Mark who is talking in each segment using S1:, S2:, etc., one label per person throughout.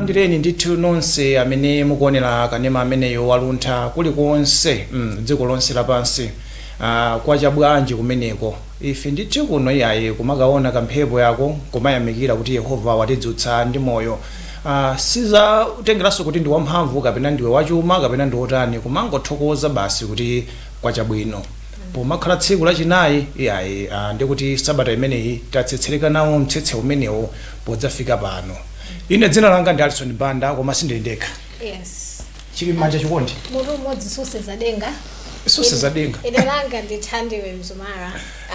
S1: tikulandireni ndithu nonse amene mukuonera kanema ameneyo wa Luntha kulikonse mm, dziko lonse lapansi ah, kwacha bwanji kumeneko Ife ndithu kuno iyayi kumakaona ka mphepo yako nkumayamikira kuti Yehova watidzutsa ndi moyo aah sizatengeranso kuti ndi wamphamvu kapena ndiwe wachuma kapena ndi wotani kumangothokoza basi kuti kwacha bwino pomakhala tsiku lachinayi iyayi aah ndekuti sabata imeneyi tatsetsereka nawo mtsetse umenewo podzafika pano. Ine dzina langa ndi Alison Banda koma sindili ndekha.
S2: Yes. chili
S1: m'manja chikondi Mutu umodzi
S2: susenza denga. Susenza
S1: denga. Ine langa
S2: ndi Thandiwe Mzumara.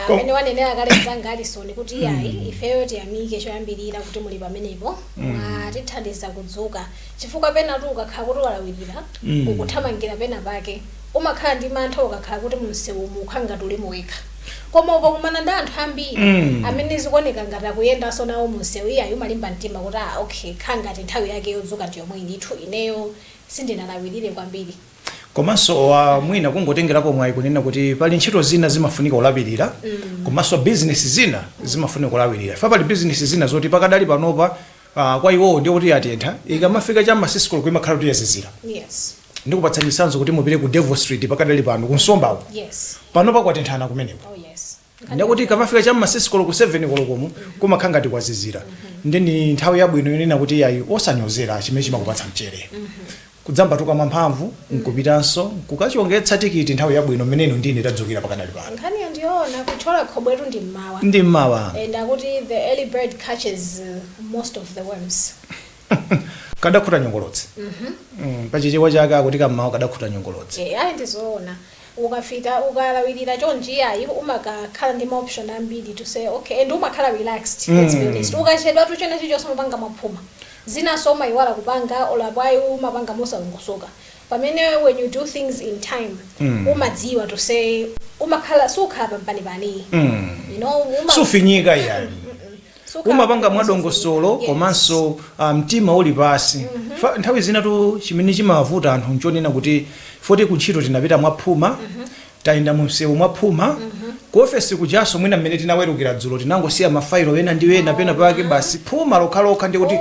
S2: Ko- Mmene wanenera kale mzanga Alison kuti iyayi ifeyo tiyamike choyambirira kuti muli pamenepo. Mwatithandiza kudzuka. Chifukwa penatu ukakhala kuti walawirira ukuthamangira pena pake. Umakhala ndi mantha ukakhala kuti mumsewumu ukukhala ngati ulimo wekha. Koma ukakumana ndi anthu ambiri amene zikuoneka ngati akuyendanso nawo mumsewu, iyayi umalimba mtima kuti aa okay ikhala ngati nthawi yake yodzuka ndi yomweyi ndithu ineyo sindinalawirire kwambiri.
S1: Komanso mwina kungotengerapo mwayi kunena kuti pali ntchito zina zimafunika kulawirira komanso bizinesi zina zimafunika kulawirira. Chifukwa pali bizinesi zina zoti pakadali panopa kwa iwowo ndiye kuti yatentha, ikamafika cha m'ma 6 koloko imakhala kuti yazizira. Yes.
S2: ndikupatsa
S1: chitsanzo kuti mupite ku devil street pakadali pano kunsomba yes
S2: panopa
S1: kwatenthana kumeneko oh yes
S2: ndekuti ikamafika cha
S1: mma 6 koloko 7 kolokomu kumakhala ngati kwazizira nde ndi nthawi yabwino yonena kuti yayi osanyozera chimene chimakupatsa mchere kudzambatuka mwamphamvu nkupitanso nkukachongetsa tikiti nthawi yabwino mmene ino ndi ife tadzukira pakadali pano nkhani yake ndi
S2: yoona kutchola khobwetu ndi mmawa ndi mmawa and
S1: akuti the
S2: early bird catches uh, most of the worms
S1: kadakhuta nyongolotsi Mm, pa chichewa chake akuti kammawa kadakhuta nyongolotsi Eh, ayi
S2: ndizoona ukafika ukalawirira chonji ayi umakakhala ndi maoption ambiri to say okay and umakhala relaxed let's be honest ukachedwatu chena chichonse umapanga mwaphuma zinaso umayiwala kupanga olo apo ayi umapanga mosalongosoka pamene when you do things in time umadziwa to say umakhala sukhala pampanipani Mm. you know uma- sufinyika yayi
S1: umapanga mwadongosolo komanso mtima uli pasi chifukwa nthawi zinatu chimene chimawavuta anthu nchonena kuti foti kuntchito tinapita mwaphuma tayenda mumsewu mwaphuma ku ofesi kujaso mwina mmene tinawerukira dzulo tinangosiya mafailo ena ndi ena pena pake basi phuma lokhalokha ndi kuti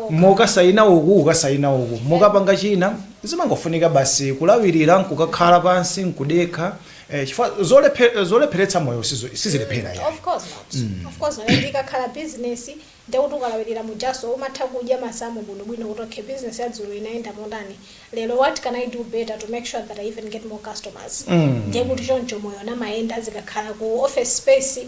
S1: mukasayina uku kukasayina uku mukapanga china zimangofunika basi kulawirira nkukakhala pansi nkudekha Eh, chifukwa zolephe- zolepheretsa moyo sizo- sizilephera yayi of course
S2: not of course not and ikakhala business ndekuti ukalawirira mujaso umatha kudya masamu bwinobwino kuti okay business ya dzulo inayenda motani lero what can i do better to make sure that i even get more customers ndekuti choncho moyo umayenda zikakhala ku office space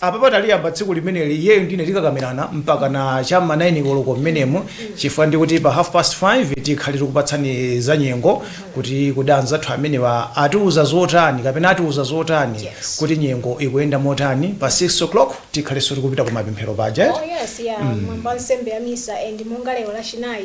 S1: Apapa taliyamba tsiku limeneli iyeyo ndine tikakamirana mpakana cha m'ma 9 koloko m'menemu chifukwa ndikuti pa half past 5 tikhale tikupatsani za nyengo kuti kodi anzathu amenewa atiwuza zotani kapena atiuza zotani Yes. kuti nyengo ikuyenda motani pa 6 o'clock tikhalenso tikupita ku mapemphero paja Oh eti? yes ya mwambo
S2: wa nsembe ya misa and monga lero lachinayi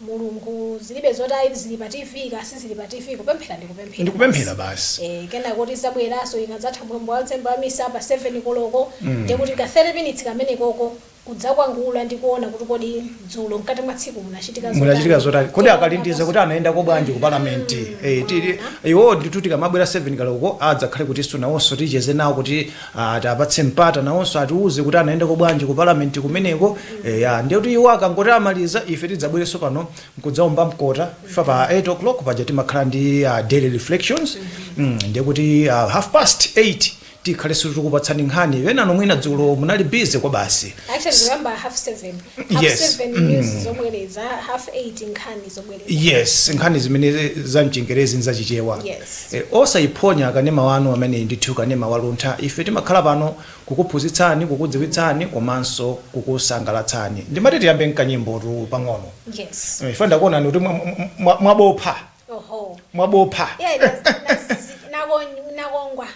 S2: mulungu zilibe zoti ayi zili pa tv kaya sizili pa tv kupemphera ndi kupemphera Ndi
S1: kupemphera basi. eh, kenako tizabweranso
S2: ikadzatha mwambo wa nsembe ya misa pa 7 koloko Mm. ndiye kuti ka 30 minutes kamenekoko kudzakwangula ndi kuona kuti kodi dzulo mkati mwa tsiku munachitika zotani. munachitika zotani kodi Kuona
S1: akalindiza kuti komanso- anayendako bwanji ku parliament Eh, tili- iwo ndithu tikamabwera 7 koloko adzakhale kuti nawonso ticheze nawo kuti Tiapatse mpata nawonso atiuze kuti anayendako bwanji ku parliament kumeneko eya ndiye kuti iwo akangoti amaliza ife tidzabwerenso pano nkudzaomba mkota chifukwa pa 8 o'clock paja timakhala ndi daily reflections mm, ndiye kuti half past 8 tikhalenso tikupatsani nkhani enanu mwina dzulo munali busy kwa basi Actually, remember half
S2: seven. Half Yes. seven
S1: news
S2: zobwereza, half eight nkhani zobwereza. yes
S1: nkhani zimene za mchingerezi nza chichewa Yes.
S2: e, osayiphonya
S1: kanema wanu amene ndithu kanema waluntha ife timakhala pano kukuphunzitsani kukudziwitsani komanso kukusangalatsani ndimati tiyambe nkanyimbotu pang'ono Yes. Eh,
S2: ine ndakuonani kuti
S1: mwa- mwa- mwa- mwabopha
S2: Oho. mwabopha Yeah,
S1: that's, that's,
S2: nako, nakongwa.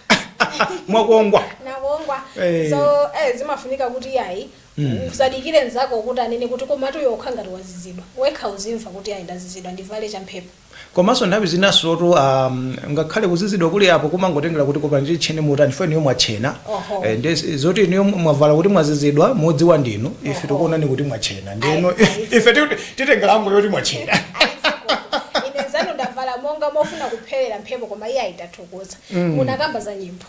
S2: mwakongwa
S1: nakongwa
S2: Eh. so eh, zimafunika kuti yayi Usadikire nzako kuti anene kuti komatu iwe ukukhala ngati wazizidwa. Wekha uzimva kuti yayi ndazizidwa ndivale cha mphepo. Komaso nthawi
S1: zinasotu ngakhale kuzizidwa kuli apo kumangotengera kuti koma nditchene motani chifukwa inuyo mwatchena eeh nde zoti inuyo mwavala kuti mwazizidwa mudziwa ndinu ife tikuonani kuti mwatchena ndeno ife titenga angle yoti mwatchena. Ai zikomo. Ine
S2: nzanu ndavala monga mofuna kupherera mphepo koma iyai tathokoza. Munakamba za nyimbo.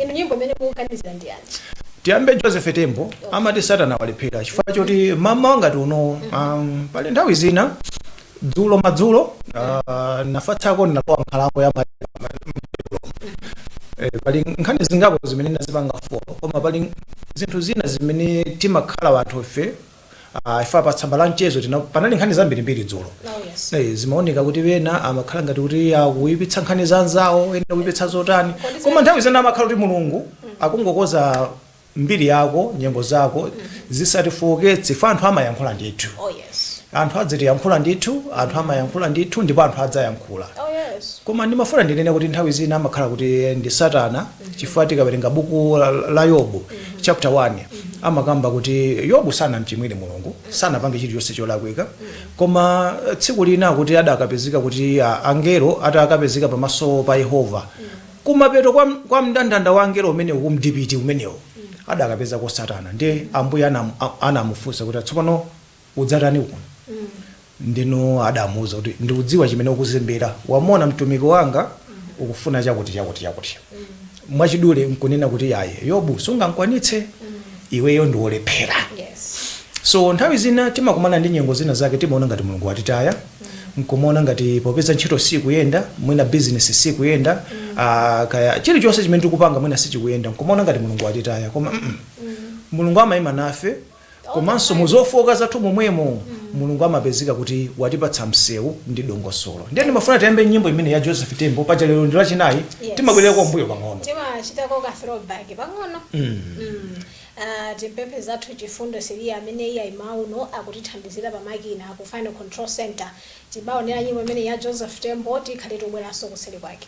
S2: inu nyimbo imene mukuganizira ndi yanji tiyambe
S1: joseph tembo amati satana walephera chifukwa choti mamawa ngati uno um, pali nthawi zina dzulo madzulo uh, nafatsako ndinalowa nkhalango ya ma- Eh, pali nkhani zingapo zimene ndazipanga folo koma pali zinthu zina zimene timakhala anthu ife Ah, ife pa tsamba la mchezo lina panali nkhani zambirimbiri dzulo Oh, yes. Eh, zimaoneka kuti wena amakhala ngati kuti akuyipitsa nkhani za anzawo ena kuyipitsa zotani Kodi zimene- koma nthawi zina amakhala kuti mulungu akungokonza mbiri yako nyengo zako zisatifooketse ifa anthu amayankhula ndithu Oh, yes. anthu adzatiyankhula ndithu anthu amayankhula ndithu ndipo anthu adzayankhula Oh, yes. koma ndimafuna ndinene kuti nthawi zina amakhala kuti ndi satana chifukwa tikawerenga buku la, la yobu chapter 1 amakamba kuti yobu sanamchimwire mulungu sanapange chilichonse cholakwika koma eh, tsiku lina kuti adakapezeka kuti ah, angelo atakapezeka pamaso pa yehova kumapeto kwa, kwa mndandanda wa angelo umenewu kumdipiti umenewo adakapezako satana ndiye ambuye anam- a- anamufunsa kuti tsopano udzatani kuno ndiyeno adamuuza kuti ndikudziwa chimene ukuzembera wamona mtumiki wanga ukufuna chakuti chakuti chakuti mwachidule nkunena kuti ayi yobu sungamkwanitse iweyo ndiwolephera Yes. so nthawi zina timakumana ndi nyengo zina zake timaona ngati mulungu watitaya nkumaona ngati popeza ntchito sikuyenda mwina bizinesi sikuyenda ah, kaya chilichonse chimene tikupanga mwina sichikuyenda nkumaona ngati mulungu watitaya koma mm, mulungu amayima nafe Komanso mu zofooka zathu momwemo, Mulungu amapezeka kuti watipatsa msewu ndi dongosolo. Ndiye ndimafuna tiyambe nyimbo imeneyi ya Joseph Tembo, paja lero ndi lachinayi, timabwererako m'mbuyo pang'ono. Timachitako ka throw
S2: back pang'ono. Timpemphe mzathu Chifundo Siliya amene iyayi mmawa uno akutithandizira pa makina ku Final Control Centre. Tibaonere nyimbo imeneyi ya Joseph Tembo, tikhale tobweranso kuseri kwake.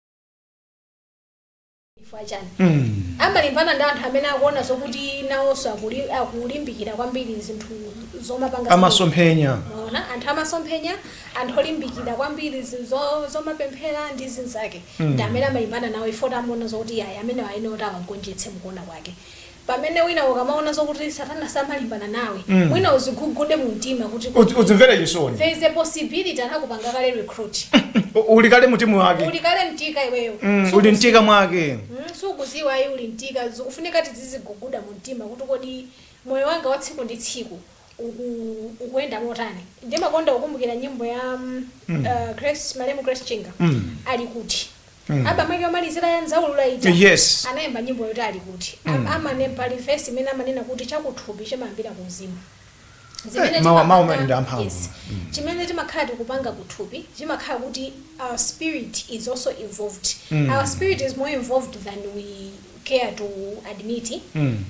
S2: chifukwa chani Mm. amalimbana ndi anthu amene akuona zokuti nawonso akuli- akulimbikira kwambiri zinthu zomapanga amasomphenya
S1: Mwaona?
S2: anthu amasomphenya anthu olimbikira kwambiri zinthu zo- zomapemphera ndi zinzake ndi amene amalimbana nawo ifa choti amaona zokuti ayi amenewa ayenera kuti awagonjetse mukuona kwake pamene wina ukamaona zokuti satana samalimbana nawe Mm. wina udzigugude mu mtima kuti Udzi- udzimvere chisoni
S1: there is a
S2: possibility anakupanga kale recruit U- uli kale
S1: mutimu mwake uli kale mtika iweyo
S2: Mm, Suku- uli mtika mwake
S1: Mm, sukudziwa
S2: ayi uli mtika zikufunika tizidziguguda mu mtima kuti kodi moyo wanga wa tsiku ndi tsiku uku- ukuyenda motani ndimakonda kukumbukira nyimbo ya mm, Mm. uh, grace malemu grace chinga Mm. ali kuti Mm. album yake yomalizira ya nzaulula ija Yes. anayimba
S1: nyimbo yoti
S2: ali kuti Mm. mm. amanena pali vesi imene amanena kuti chakuthupi chimayambira ku mzimu Eh, mawu- mawu amene ndi amphamvu. yes. chimene timakhala tikupanga kuthupi chimakhala kuti our spirit is also involved Mm. our spirit is more involved than we care to admit Mm.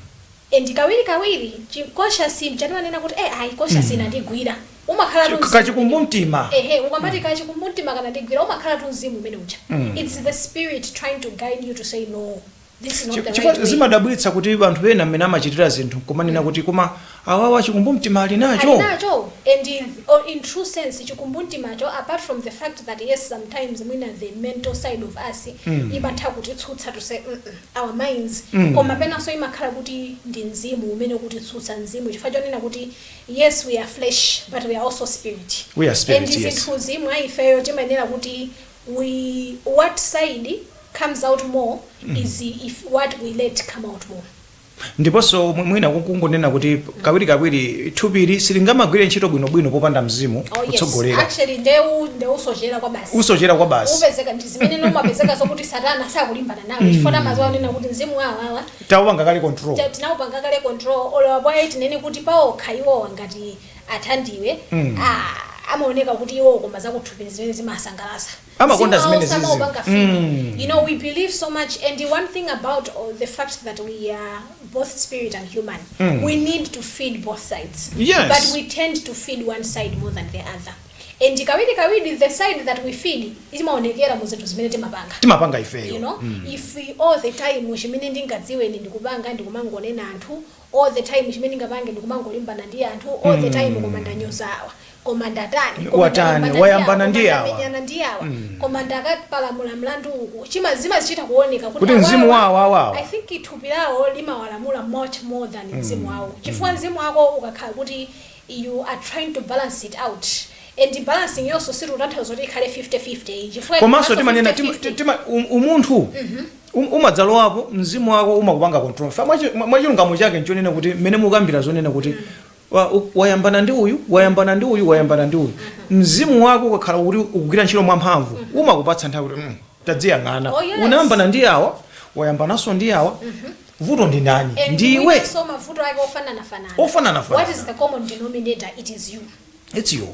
S2: And kawirikawiri chi conscious ncha timanena kuti eh ayi conscious Mm. inandigwira. Umakhalatu Chi, mzimu umenewo.
S1: kachikumbumtima. Ehe, ukamati
S2: Mm. kachikumbumtima kanandigwira umakhalatu mzimu umene uja. Mm. It's the spirit trying to guide you to say no, this is not Chi- the right Chifukwa way. zimadabwitsa kuti
S1: anthu ena mmene amachitira zinthu nkumanena Mm. kuti koma awawa chikumbumtima ali Ali nacho. nacho and
S2: in, or in true sense chikumbumtimacho apart from the fact that yes sometimes mwina the mental side of us Mm. imatha kutitsutsa to say mm -mm. our minds, koma penanso imakhala kuti ndi mzimu umene ukutitsutsa, mzimu chifukwa chonena kuti yes we are flesh but we are also spirit We are spirit, and yes. zinthuzi mwa ifeyo timayenera kuti we what side comes out more is if what we let come out more ndiponso
S1: mwi- mwina ku- kungonena kuti kawirikawiri thupili silingamagwire ntchito bwinobwino popanda mzimu oh yes kutsogolera actually nde
S2: ndeusochera kwa basi usochera kwa basi upezeka ndi zimene zimapezeka zokuti satana sakulimbana nawo mm. chifukwa amadziwa kunena kuti mzimu wa awawa taupanga kale
S1: control tinaupanga kale
S2: control olo wapwaye tinene kuti paokha iwowo ngati athandiwe mm. ah, amaoneka kuti iwowo koma zakuthupi zimene zimasangalatsa amakonda zimene
S1: zizi mm. you
S2: know we believe so much and the one thing about uh, the fact that we are both spirit and human mm. we need to feed both sides yes. but we tend to feed one side more than the other And kawirikawiri the side that we feed imaonekera mu zinthu zimene timapanga. Timapanga ifeyo. You know,
S1: mm. if
S2: we, all the time chimene ndingadziwe ine ndikupanga ndikumangonena anthu, all the time chimene ndingapange ndikumangolimbana ndi anthu, all mm. the time mm. koma ndanyoza awa koma ndatani watani wayambana ndi
S1: awa wamenyana ndi awa mm.
S2: koma ndakapalamula mlandu uku chima zima zichita kuoneka kuti mzimu wao wao
S1: wao i think thupi lawo
S2: limawalamula much more than mm. mzimu mm. wao chifukwa mm. mzimu wako ukakhala kuti you are trying to balance it out and balancing yonso sitikutanthauza kuti ikhale 50 50 ayi chifukwa komanso ikamanso timanena 50
S1: tima, 50 tima, um, umunthu um, umadzalowapo mzimu wako umakupanga control fa mwachi- mwa- mwachilungamo chake nchonena kuti mmene mukambira zonena kuti wa- u- wayambana ndi uyu wayambana ndi uyu wayambana ndi uyu mzimu wako ukakhala kuti ukugwira ntchito mwamphamvu umakupatsa nthawi kuti mm, tadziyang'ana Oh, yes. unayambana ndi awa wayambananso ndi awa vuto ndi ndani Ndi ndi iwe mwinanso mavuto
S2: ake ofananafanana. What is ofananafanana the common denominator? It is you. its
S1: you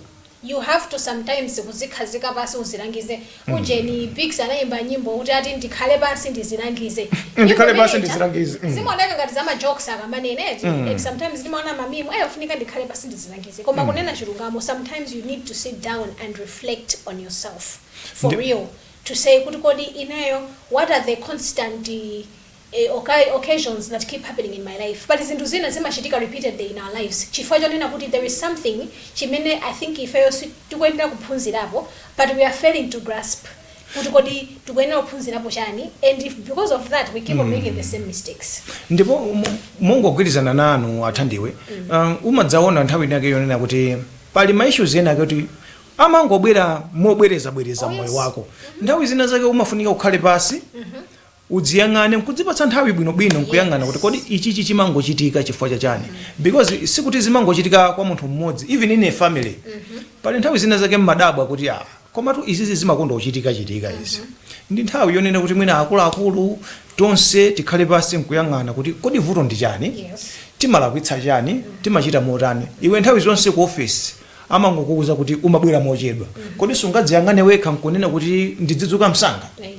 S1: You have to sometimes
S2: kuzikhazika pansi uzilangize. Ujeni Biggs anayimba nyimbo kuti ati ndikhale pansi ndizilangize. Nyimbo Ndikhale pansi imeneyi, ndizilangize, mm. Zimaoneka ngati za majokes akamanena eti. And sometimes ndimaona mamimu ayi ndikufunika ndikhale pansi ndizilangize. Koma kunena chilungamo sometimes you need to sit down and reflect on yourself for Ndi- real to say kuti kodi ineyo what are the constant eh, e okay occasions that keep happening in my life pali zinthu zina zimachitika repeatedly in our lives chifukwa chonena kuti there is something chimene i think ifeyo tikuyenera kuphunzirapo but we are failing to grasp kuti kodi tikuyenera kuphunzirapo chani and if because of that we keep on making the same mistakes ndipo
S1: mo- mongogwirizana nanu athandiwe um, umadzaona nthawi inake yonena kuti pali ma issues ena ake kuti amangobwera mobwerezabwereza Oh, mmoyo yes. wako nthawi zina zake umafunika ukhale pansi Udziyang'ane nkudzipatsa nthawi bwino bwino nkuyang'ana kuti kodi Yes. ichichi chimangochitika chifukwa cha chani because sikuti zimangochitika kwa munthu mmodzi even in a family pali nthawi zina zake mmadabwa kuti ah komatu izizi zimakonda kuchitika chitika izi ndi nthawi yonena kuti mwina akuluakulu tonse tikhale pansi nkuyang'ana kuti kodi vuto ndi chani Yes. timalakwitsa chani timachita motani iwe nthawi zonse ku ofesi amangokuuza kuti umabwera mochedwa kodi sungadziyang'ane wekha nkunena kuti ndidzidzuka msanga Amen.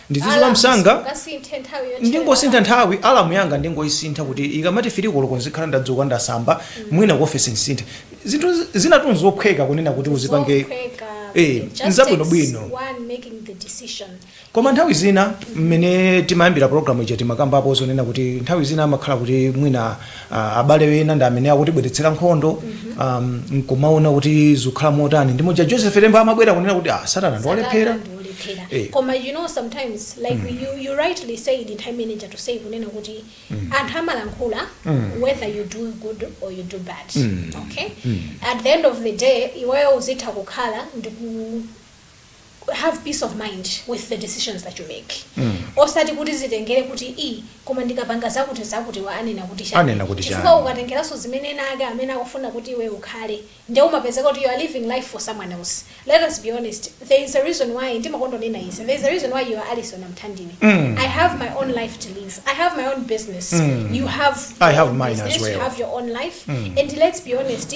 S1: ndizidzuka Alarms, msanga ungasinthe nthawi yotchera ndingosintha alarm. nthawi alamu yanga ndingoyisintha kuti ikamati firi koloko nzikhala ndadzuka ndasamba mwina ku ofesi ndisinthe zinthu zi- zinatu nzophweka kunena kuti uzipange Zophweka.
S2: Eh, It just nzabwinobwino. takes
S1: one
S2: making the decision. koma nthawi
S1: zina mmene timayambira programu ija timakambapo zonena kuti nthawi zina amakhala kuti mwina Ah, abale ena ndi amene akutibweretsera nkhondo um, nkumaona kuti zikukhala motani ndi muja joseph tembo amabwera kunena kuti ah, satana ndiwolephera Satana ndiwolephera. Eh. koma
S2: you know sometimes like you, you rightly said nthawi imene ija tusei kunena kuti anthu amalankhula whether you do good or you do bad okay at the end of the day iweyo uzitha kukhala ndi ku- have peace of mind with the decisions that you make mm. osati kuti zitengere kuti i koma ndikapanga zakuti zakuti awa anena kuti chani chifukwa
S1: ukatengeranso
S2: zimene ena ake amene akufuna kuti iwe ukhale nde umapezeka kuti you are living life for someone else let us be honest there is a reason why ndimakonda kunena izi there is a reason why you are alison amthandini mm. i have my own life to live i have my own business mm. you have i have mine business as
S1: well you have your own
S2: life
S1: mm.
S2: and let's be honest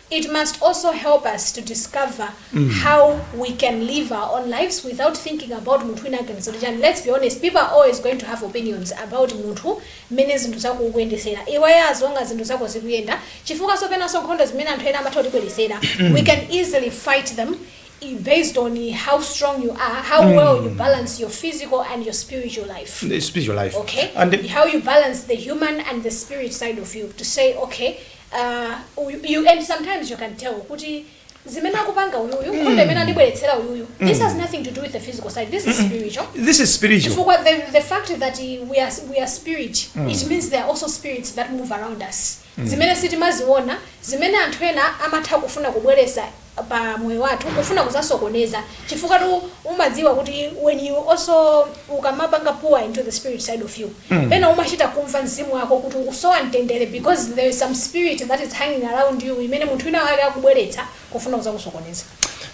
S2: It must also help us to discover how we can live our own lives without thinking about munthu wina aganiza kuti chani. Let's be honest, people are always going to have opinions about munthu mmene zinthu zako ukuyendesera. Iweyo as long as zinthu zako zikuyenda, chifukwa sopenanso nkhondo zimene anthu ena amatha kutibweretsera, we can easily fight them i- based on how strong you are, how well you balance your physical and your spiritual life The spiritual life. okay
S1: And the- how you
S2: balance
S1: the
S2: human and the spirit side of you to say okay Uh, uyu, you, and sometimes you can tell kuti zimene akupanga uyuyu mm. nkhondo imene andibweretsera uyuyu mm. this has nothing to do with the physical side this is spiritual this is spiritual chifukwa
S1: the, the fact that
S2: we are, we are spirit mm. it means there are also spirits that move around us mm. zimene sitimaziona zimene anthu ena amatha kufuna kubweresa pa moyo wathu kufuna kuzasokoneza chifukwatu umadziwa kuti when you also ukamapanga pour into the spirit side of you mm. pena umachita kumva mzimu wako kuti ukusowa mtendere because there is some spirit that is hanging around you imene munthu wina wake akubweretsa kufuna kuzakusokoneza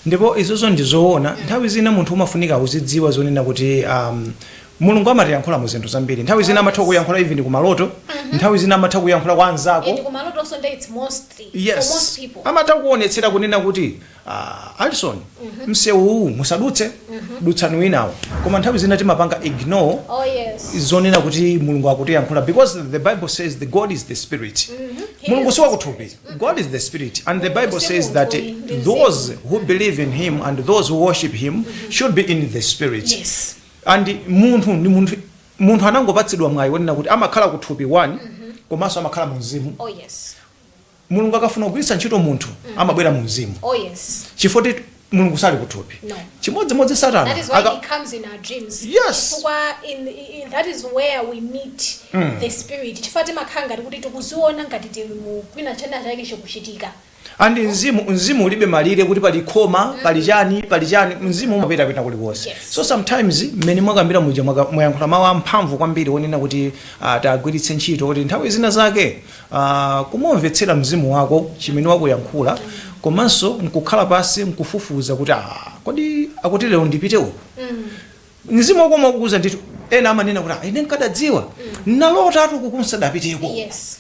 S2: ndipo izozo
S1: ndizoona nthawi zina munthu umafunika uzidziwa zonena kuti um, Mulungu amatiyankhula mu zinthu zambiri. Nthawi zina amatha kukuyankhula even ku maloto, nthawi zina amatha kuyankhula kwa anzako. And kumalotonso nde it's
S2: mostly yes. for most people. Amatha kukuonetsera kunena
S1: kuti uh, Alison mm -hmm. msewu uwu musadutse mm -hmm. dutsani winawo. Koma nthawi zina timapanga ignore oh, yes. zonena kuti Mulungu akutiyankhula because the Bible says the God is the spirit. Mm -hmm. Mulungu si wakuthupi. Mm-hmm. God is the spirit and the Bible says that those who believe in him and those who worship him mm-hmm. should be in the spirit. Yes.
S2: And
S1: munthu ndi munthu anangopatsidwa mwayi wonena kuti amakhala ku thupi one komanso amakhala mu mzimu. Oh yes. Mulungu akafuna kugwiritsa ntchito munthu amabwera mu mzimu Oh yes. chifukwa kuti Mulungu sali ku thupi. No. Chimodzimodzi That Satana is why aka- he comes
S2: in our dreams. Yes.
S1: Chifukwa in, in,
S2: that is where we meet the spirit. Chifukwa timakhala ngati kuti tikuziona ngati tili mu kwina china chake chikuchitika. and
S1: mzimu mzimu ulibe malire kuti pali khoma pali chani pali chani mzimu umapita kwina kulikonse Yes. so sometimes mmene mwakambira muja mwaka- mwayankhula mawu amphamvu kwambiri onena kuti ah, tagwiritse ntchito kuti nthawi zina zake ah, kumumvetsera mzimu wako chimene wakuyankhula komanso nkukhala pansi nkufufuza kuti ah, kodi akuti lero ndipite uko mzimu wako umakuuza ndithu ena amanena kuti "Ah, ine nkadadziwa ndinalotatu kuti ndisadapiteko yes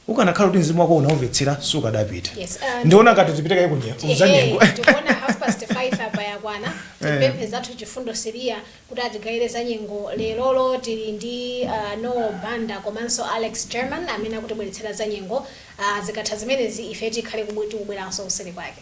S1: Ukanakhala kuti mzimu wako unaumvetsera sukadapita. Yes, uh, Ndiona ngati tipite kaye ku nye- Ehe, ku zanyengo. tikuona half
S2: past five apa yakwana timpemphe mnzathu Chifundo Siliya kuti atigayire za nyengo lerolo tili ndi uh, Noel Banda komanso Alex German amene akutibweretsera za nyengo uh, zikatha zimenezi ife tikhale kubwe- tikubweranso kuseri kwake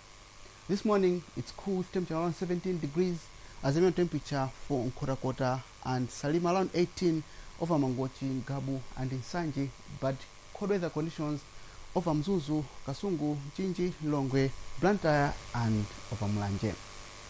S3: This morning it's cool with temperature around 17 degrees, Azimio temperature for Nkhotakota and Salima around 18, over Mangochi, Ngabu and Nsanje, but cold weather conditions over Mzuzu, Kasungu, Mchinji, Lilongwe, Blantyre and over Mulanje.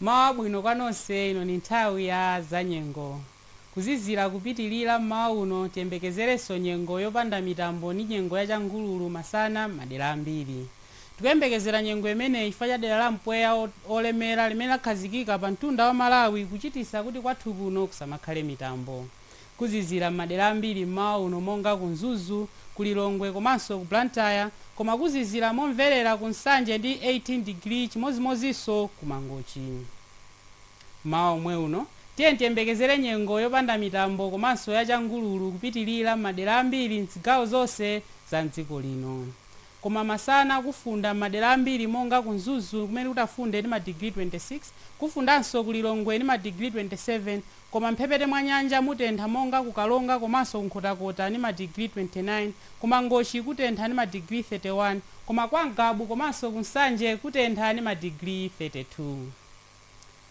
S4: Mmawa wabwino kwa nonse, ino ndi nthawi ya zanyengo. Kuzizira kupitilira mmawa uno, tiyembekezerenso nyengo yopanda mitambo ndi nyengo ya changululu masana m'madera ambiri. Tikuyembekezera nyengo imeneyi chifukwa cha dera la mpweya wolemera limene lakhazikika pa mtunda wa Malawi kuchititsa kuti kwathu kuno kusamakhale mitambo. Kuzizira m'madera ambiri m'mawa uno monga ku Mzuzu, ku Lilongwe komanso ku Blantyre koma kuzizira momverera ku Nsanje ndi 18 digiri chimodzimodzinso ku Mangochi. M'mawa omwe uno tiyeni tiyembekezere nyengo yopanda mitambo komanso ya changululu kupitilira m'madera ambiri m'zigawo zonse za m'dziko lino. Koma masana kufunda m'madera ambiri monga ku Mzuzu kumene kutafunde ndi madigiri 26, kufundanso ku Lilongwe ndi madigiri 27 koma m'mphepete mwa nyanja mutentha monga ku Karonga komanso ku Nkhotakota ndi madigiri 29, ku Mangochi kutentha ndi madigiri 31, koma kwa Ngabu komanso ku Nsanje kutentha ndi madigiri 32.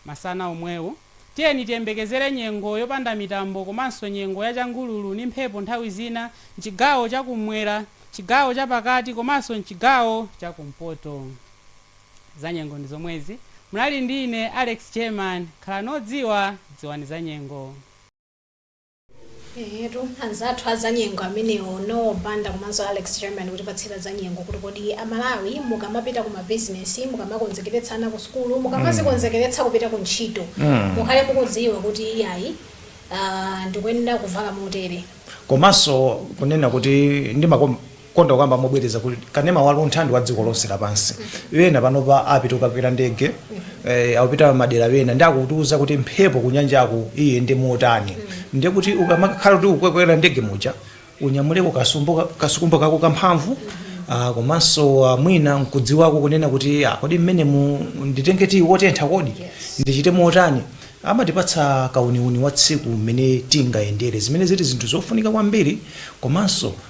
S4: Masana omwewo, tiyeni tiyembekezere nyengo yopanda mitambo komanso nyengo ya changululu ndi mphepo nthawi zina m'chigawo cha kummwera, chigawo cha pakati komanso m'chigawo cha kumpoto. Zanyengo ndi zomwezi. Munali ndi ine, Alex German. Khalani odziwa, dziwani zanyengo. Eetu,
S2: anzathu a zanyengo amenewo, Noel Banda komanso Alex German kutipatsira zanyengo kuti kodi a Malawi mukamapita ku mabizinesi, mukamakonzekeretsa ana ku sukulu, mukamazikonzekeretsa kupita ku ntchito, mukhale mukudziwa kuti iyayi ah, ndikuyenera kuvala motere. komanso
S1: kunena kuti ndimakom konda kukamba mobwereza kuti kanema wa luntha ndi wa dziko lonse lapansi ena panopa apita kukakwera ndege eh, akupita madera ena ndi akutiuza kuti mphepo kunyanjaku iyende motani ndiye kuti ukamakhala kuti ukukwera ndege muja unyamuleko kasumbu ka- kasukumbo kako kamphamvu ah, komanso ah, mwina nkudziwako kunena kuti ah, kodi mmene mu nditenge tiyi wotentha kodi ndichite motani amatipatsa kauniuni wa tsiku mmene tingayendere zimene zili zinthu zofunika kwambiri komanso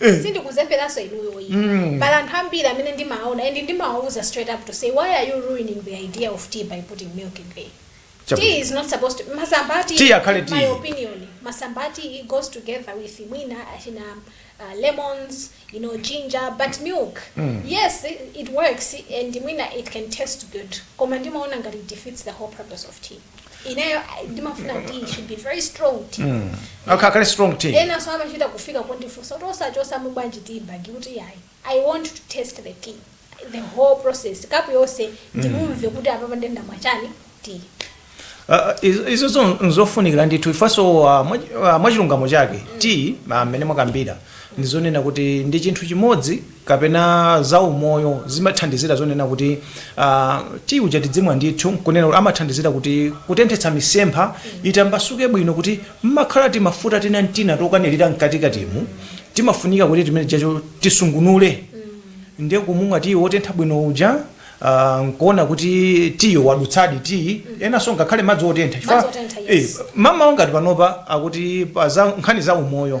S2: Eh. sindikuzemberanso inuyo iyi Mm. pali anthu ambiri amene ndimaona and ndimawauza straight up to say why are you ruining the idea of tea by putting milk in there Chabu- tea is not supposed to masamba ati Tea akhale in my tea. opinion masamba ati it goes together with mwina achina uh, lemons you know ginger but milk Mm. yes it, it works and mwina it can taste good koma ndimaona ngati it defeats the whole purpose of tea ineyo I- ndimafuna kuti it should be very strong tea Mm. Okay, kale
S1: strong tea. ena so amachita
S2: kufika kundifunsa kuti osachosamo bwanji tea bag kuti yayi i want to taste the tea the whole process kapu yonse ndimumve kuti apapa nde ndamwa chani
S1: tiyi Uh, iz- izo zo- nzofunikira ndithu ifenso uh, mwa- uh, mwachilungamo chake tiyi mmene mwakambira ndizonena kuti ndi chinthu chimodzi kapena za umoyo zimathandizira zonena kuti tiyi uja tidzimwa ndithu nkunena kuti amathandizira kuti kutenthetsa misempha itambasuke bwino kuti mmakhala timafuta tina ntina tokanirira mkatikatimu timafunika kuti timene tijacho tisungunule ndiye kumumwa tiyi wotentha bwino uja ah, nkuona kuti tiyo wadutsadi tiyi enanso ngakhale madzi otentha Chifukwa- Madzi otentha, yes. eh, mamawa ngati panopa akuti pa za- nkhani za umoyo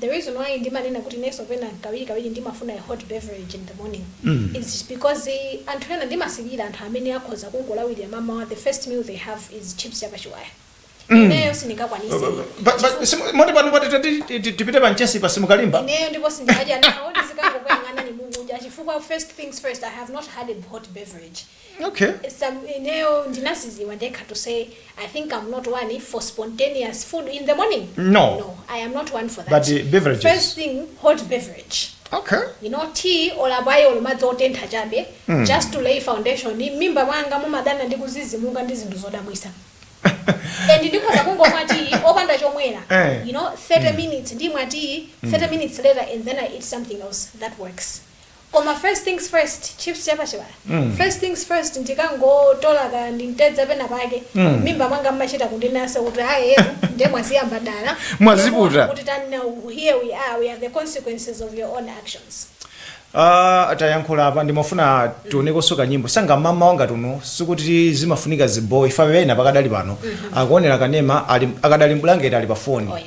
S2: The reason why ndimanena kuti inenso pena kawirikawiri ndimafuna a hot beverage in the morning is because anthu ena ndimasilira anthu amene akhoza kungolawirira mamawa the first meal they have is chips ya pachiwaya. Ineyo sindingakwanise ayi. Pa- pa- Chifukwa-
S1: simu- moti pano pati tati- ti- ti- tipite pa mchesi pa simukalimba ineyo ndipo sindingadya
S2: nawo ndizikangokuyang'anani mukudya chifukwa first things first i have not had a hot beverage
S1: Okay. So ineyo
S2: ndinaziziwa ndekha to say I think I'm not one for spontaneous food in the morning. No. No, I am not
S1: one for that.
S2: But, uh, beverages. First thing,
S1: hot
S2: beverage. Okay. You know,
S1: tea
S2: or abayi or madzi otentha chabe just to lay foundation. Mmimba mwanga mumadana ndi kuzizimuka ndi zinthu zodabwisa. and ndikhoza kungomwa tea opanda chomwera Eh. you know 30 minutes ndimwa tea 30 minutes later and then i eat something else that works Koma first things first, chips cha pachiwaya. Mm. First things first ndikangotola ka ndi mtedza pena pake. Mm. Mmimba mwanga mmachita kundinasa kuti hayi yetu ndiye mwaziyamba dala. Mwaziputa. Kuti tani
S1: now
S2: here we are we are the consequences of your own actions.
S1: Ah, tayankhula apa ndimafuna tionekonso kanyimbo msanga mamawa ngati uno sikuti zimafunika ziboyi ife ena pakadali pano akuonera kanema ali akadali mbulangeti ali pa foni Oh, yes.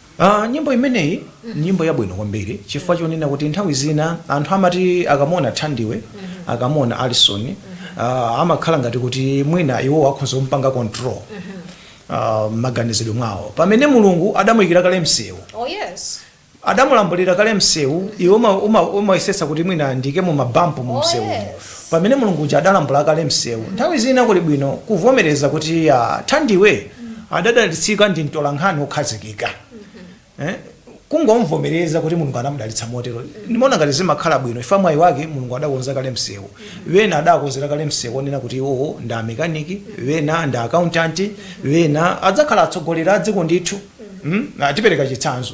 S2: Aaa nyimbo
S1: imeneyi nyimbo yabwino kwambiri chifukwa chonena kuti nthawi zina anthu amati akamuona Thandiwe akamuona Alison aaa amakhala ngati kuti mwina iwowo akhonza kumupanga control aaa mmaganizidwe mwawo pamene Mulungu adamuyikira kale
S2: msewu adamulambulira
S1: kale msewu iwe uma uma umayesetsa kuti mwina ndiyikemo mabampu mumsewumo Pamene Mulungu uja adalambula kale msewu, nthawi zina kuli bwino kuvomereza kuti a Thandiwe adadalitsika ndi mtolankhani wokhazikika. Eh, Kungomvomereza kuti Mulungu anamudalitsa motero, ndimaona ngati zimakhala bwino chifukwa mwayi wake Mulungu adakonza kale msewu. Wena adakonzera kale msewu onena kuti iwowo ndi amekaniki, wena ndi a accountant, wena adzakhala atsogoleri a dziko ndithu. Mm? Ah, Tipereka chitsanzo.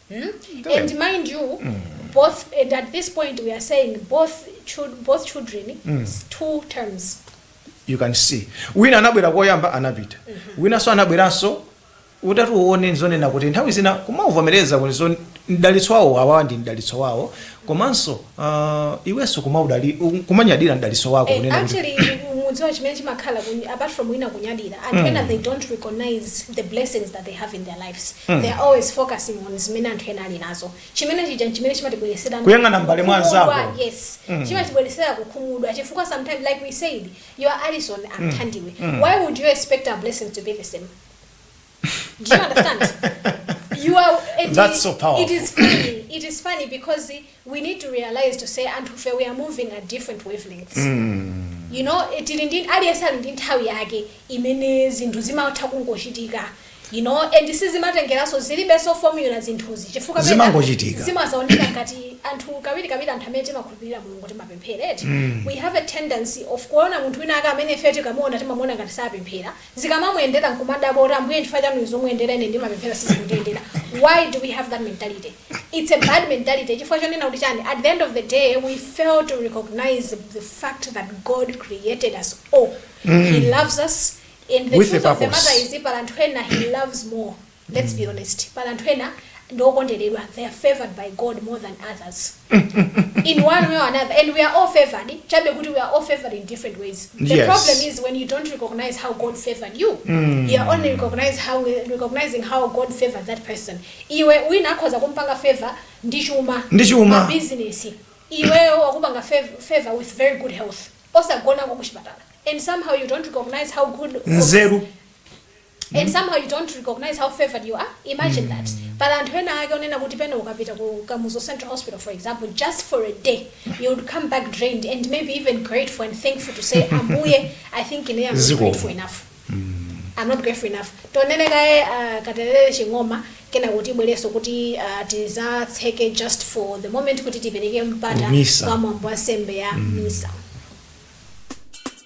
S1: mm?
S2: and mind you mm. both and at this point we are saying both chil- both children mm. two terms you can
S1: see wina anabwera koyamba anapita winanso anabweranso utati uone nzonena kuti nthawi zina kumavomereza kuti zo- mdalitso wawo awawa ndi mdalitso wawo komanso Ah, iwenso kumaudali kumanyadira mdalitso wako Eh, kunena kuti actually mudziwa
S2: chimene chimakhala kun- apart from wina kunyadira anthu ena they don't recognize the blessings that they have in their lives they are always focusing on zimene anthu ena ali nazo chimene chija nchimene chimatibweretsera Kuyang'ana m'mbale
S1: mwa anzako. kukhumudwa,
S2: yes chimatibweretsera kukhumudwa chifukwa sometimes like we said you are Alison I am Thandiwe why would you expect our blessings to be the same Do you understand? you are and That's so powerful. It is funny. It is funny because we need to realize to say anthufe, we are moving at different wavelengths. You know, it didn't aliyense ali ndi nthawi yake imene zinthu zimatha kungochitika. You know, and this is zimatengeranso zilibenso formula zinthuzi chifukwa pena Zimangochitika.
S1: zimazaoneka
S2: ngati anthu kawiri kawiri anthu amene timakhulupirira mulungu timapemphera eti we have a tendency of kuona munthu wina ake amene ife tikamuona timamuona ngati sapemphera zikamamuyendera nkumadabwa kuti Ambuye chifukwa chani uyu zikumuyendera ine ndimapemphera sizikundiyendera why do we have that mentality? It's a bad mentality chifukwa chonena kuti chani at the end of the day we fail to recognize the fact that God created us all. He loves us and the With a truth of the purpose. matter is pali anthu ena he loves more let's be honest pali anthu ena ndi okonderedwa they are favoured by god more than others in one way or another and we are all favoured chabe kuti we are all favoured in different ways the Yes. problem is when you
S1: don't
S2: recognize how god favoured you you are only recognize how recognizing how god favoured that person iwe wina akhoza kumpanga favor ndi chuma Ndi chuma. business iweyo wakupanga fav- favor with very good health osagona kukuchipatala and somehow you don't recognize how good nzeru and somehow you don't recognize how favoured you are imagine that pali anthu ena ake onena kuti pena ukapita ku kamuzu central hospital for example just for a day you would come back drained and maybe even grateful and thankful to say ambuye i think ine am not Ziko. grateful enough I'm not grateful enough tionere kaye uh, katelele ching'oma kenako tibwerenso kuti uh, tizatseke just for the moment kuti tipereke mpata Misa. kwa mwambo wa nsembe ya misa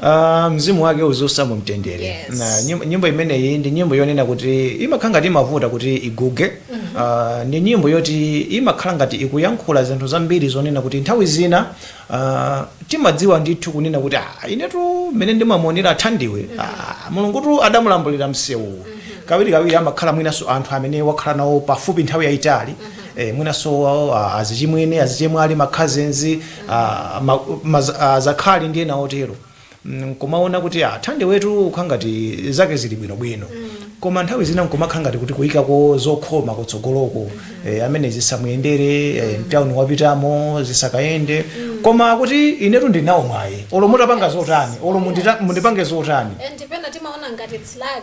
S2: Ah,
S1: mzimu wake uziusa mu mtendere Yes. na nyimbo,
S2: nyimbo
S1: imeneyi ndi nyimbo yonena kuti imakhala ngati imavuta kuti iguge Ah, ndi nyimbo yoti imakhala ngati ikuyankhula zinthu zambiri zonena kuti nthawi zina ah, timadziwa ndithu kunena kuti ah, inetu mmene ndimamuonera athandiwe ah, mulungutu adamulambulira msewuwu kawirikawiri amakhala mwinanso anthu amene wakhala nawo pafupi nthawi yayitali eh, mwinanso ah, azichimwene azichemwali ma cousins a ma, ma, azakhali ndi ena otero Mm, nkumaona kuti a Thandiwetu ukha ngati zake zili bwinobwino koma nthawi zina nkumakhala ngati kuti kuyikako zokhoma kutsogoloko eh, amene zisamuyendere eh, mtawuni wapitamo zisakayende koma kuti inetu ndinawo mwayi olo mutapanga zotani olo mundita- mundipange zotani and pena timaona
S2: ngati it's lag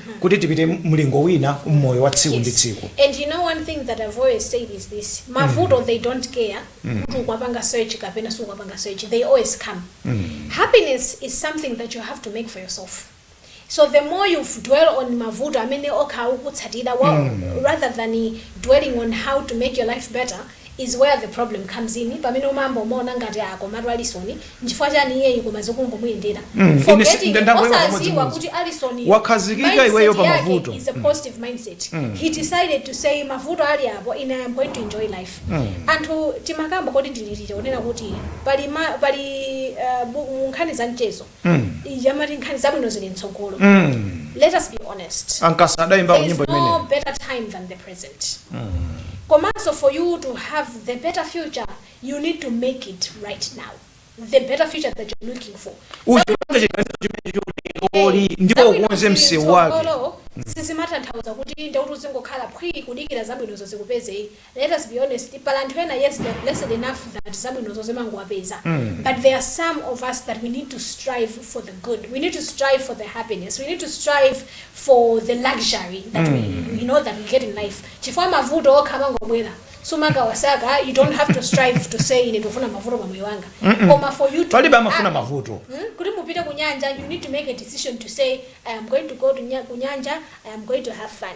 S1: kuti tipite mlingo wina m'moyo wa tsiku ndi tsiku. Yes and you know one thing that
S2: I've always said is this mavuto they don't care kuti ukwapanga search kapena sukwapanga search they always come happiness is something that you have to make for yourself so the more you dwell on mavuto amene okha akukutsatira wa- rather than dwelling on how to make your life better is where the problem comes in pamene umayamba umaona ngati ah komatu Alison nchifukwa chani iyeyu koma zikungomuyendera Mm, ine si- forgetting nda- ndabwera osaziwa pamodzimodzi. kuti Alison yu, Wakhazikika iweyo
S1: pa mavuto. mindset yake is a positive
S2: mindset he decided to say mavuto ali apo ine I am going to enjoy life anthu timakamba kodi ndililire kunena kuti pali ma, pali uh, bu- mu nkhani za mchezo mm. ija amati nkhani zabwino zili mtsogolo mm. let us be honest a Nkasa adaimba
S1: nyimbo imene there's no better time than
S2: the present mm. komanso for you to have the better future you need to make it right now the better future that you're looking for
S1: olo ndipo ukonze msewu wake sizimatanthauza
S2: kuti nde kuti uzingokhala phwi kudikira zabwinozo zikupeze let us be honest pali anthu ena yes they are blessed enough that zabwinozo zimangowapeza but there are some of us that we need to strive for the good we need to strive for the happiness we need to strive for the luxury that we, we know that we get in life chifukwa mavuto okha amangobwera sumakawasaka you don't have to strive to say ine ndikufuna mavuto pa moyo wanga koma for you to palibe amafuna Ah, mavuto
S1: Hmm? kuti mupite
S2: kunyanja you need to make a decision to say i am going to go to nya- kunyanja i am going to have fun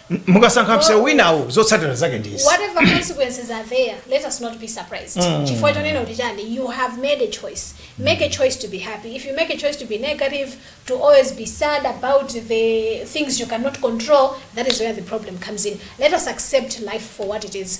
S2: M- mukasankha
S1: msewu winawo zotsatira zake ndi izi whatever consequences
S2: are there let us not be surprised chifukwa chonena kuti chani you have made a choice make a choice to be happy if you make a choice to be negative to always be sad about the things you cannot control that is where the problem comes in let us accept life for what it is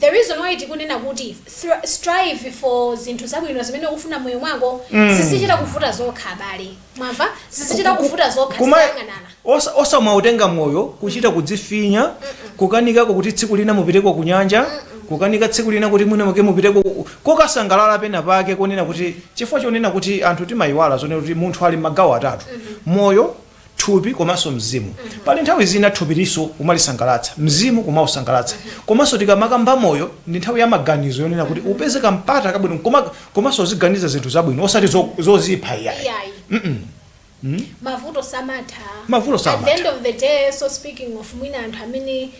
S2: the reason why tikunena kuti thri- strive for zinthu zabwino zimene ukufuna mmoyo mwako zizichita kuvuta zokha abale mwamva zizichita kuvuta zokha Kumaziyang'anana osa- osamautenga
S1: moyo kuchita kudzifinya kukanikako kuti tsiku lina mupiteko ku nyanja kukanika tsiku lina kuti mwina mwake mupiteko ku- kokasangalala pena pake konena kuti chifukwa chonena kuti anthu timayiwala zonena kuti munthu ali magawo atatu moyo thupi komanso mzimu pali nthawi zina thupi linso umalisangalatsa mzimu kumausangalatsa komanso tikamakamba moyo ndi nthawi ya maganizo yonena kuti upeze kampata kabwino koma- komanso uziganiza zinthu zabwino osati zo- zozipha iyayi iyayi mavuto
S2: samatha Mavuto samatha. at the
S1: end of the day
S2: so speaking of mwina anthu amene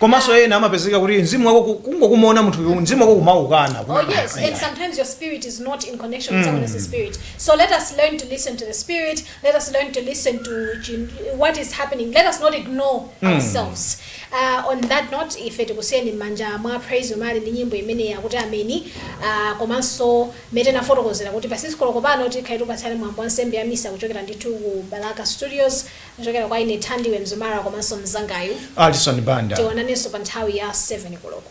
S2: komanso ena amapezeka kuti mzimu wako ku- kungokumaona munthu uyu, mzimu wako kumaukana Oh kumana. yes, and sometimes your spirit is not in connection with someone else's spirit. So let us learn to listen to the spirit. Let us learn to listen to chin- what is happening. Let us not ignore ourselves. Uh, on that note, ife tikusiyeni mmanja mwa Praise Umali ndi nyimbo imene yakuti ameni uh, komanso mmene tinafotokozera kuti pa 6 koloko pano tikhala tikupatsirani mwambo wa nsembe ya misa kuchokera ndithu ku balaka studios Kuchokera kwa ine Thandiwe Mzumara komanso mnzangayu. Alison Banda.
S1: Tionanenso pa nthawi ya
S2: 7 koloko.